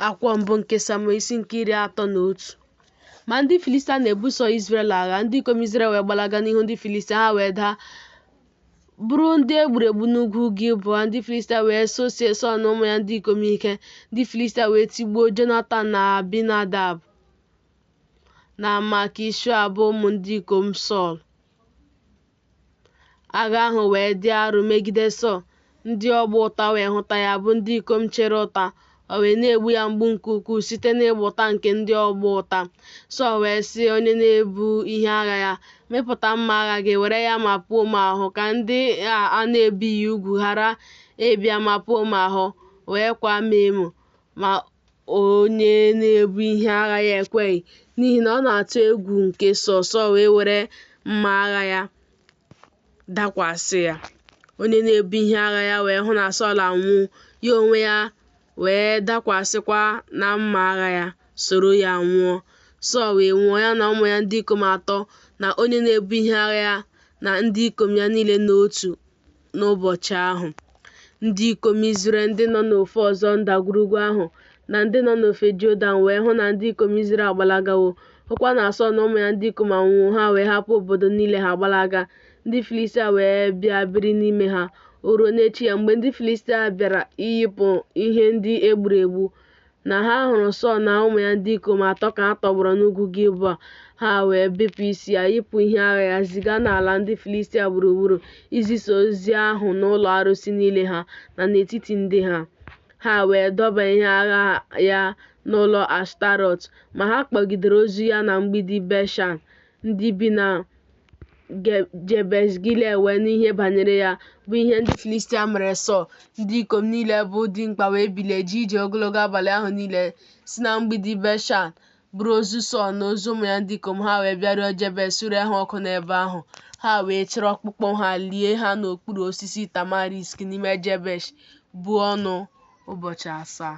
Akwụkwọ mbụ nke Samuel isi nke iri atọ na otu. Ma ndị Filistia na-ebuso Izrel agha, ndị ikom Izrel wee gbalaga n'ihu ndị Filistia, ha wee daa bụrụ ndị e gburu egbu n'ugwu Gilboa. Ndị Filistia wee sosie Sọl na ụmụ ya ndị ikom ike. Ndị Filistia wee tigbuo Jonatan na Abinadab na Malkishua bụ ụmụ ndị ikom Sọl. Agha ahụ wee dị arọ megide Sọl, ndị ọgba ụta wee hụta ya bụ ndị ikom chere ụta, o wee na-egbu ya mgbu nke ukwuu site n'ịgba ụta nke ndị ọgba ụta. Sọl wee sị onye na-ebu ihe agha ya, Mịpụta mma agha gị, were ya mapuo m ahụ, ka ndị a a na-ebighị ugwu ghara ịbịa mapuo m ahụ, wee kwaa m emo. ma onye na-ebu ihe agha ya ekweghị, n'ihi na ọ na-atụ egwu nke Sọl, Sọl wee were mma agha ya dakwasị ya. Onye na-ebu ihe agha ya wee hụ na Sọl anwụwo, ya onwe ya wee dakwasịkwa na mma agha ya, soro ya nwụọ. Sọl wee nwụọ, ya na ụmụ ya ndị ikom atọ, na onye na-ebu ihe agha ya, na ndị ikom ya niile n'otu. n'ụbọchị ahụ. Ndị ikom Izrel ndị nọ n'ofe ọzọ ndagwurugwu ahụ na ndị nọ n'ofe Jọdan wee hụ na ndị ikom Izrel agbalagawo, hụkwa na Sọl na ụmụ ya ndị ikom anwụwo, ha wee hapụ obodo niile ha gbalaga. Ndị Filistia wee bịa biri n'ime ha. O ruo n'echi ya, mgbe ndị Filistia bịara iyipụ ihe ndị e gburu egbu, na ha hụrụ Sọl na ụmụ ya ndị ikom atọ ka ha tọgbọrọ n'ugwu Gilboa, ha wee bepụ isi ya, yipụ ihe agha ya, ziga n'ala ndị Filistia gburugburu izisa ozi ahụ n'ụlọ arụsị niile ha na n'etiti ndị ha. Ha wee dọba ihe agha ya n'ụlọ Ashtarọt, ma ha kpọgidere ozu ya na mgbidi Beshan. Ndị bi na Jebesh Gilead wee nụ ihe banyere ya, bụ ihe ndị Filistia mere Sọl. Ndị ikom niile bụ dimkpa wee bilie jee ije ogologo abalị ahụ niile si na mgbidi Beshan buru ozu Sọl na ozu ụmụ ya ndị ikom ha wee bịaruo Jebesh suree ha ọkụ n'ebe ahụ. Ha wee chịrị ọkpụkpụ ha lie ha n'okpuru osisi tamarisk n'ime Jebesh buo ọnụ ụbọchị asaa.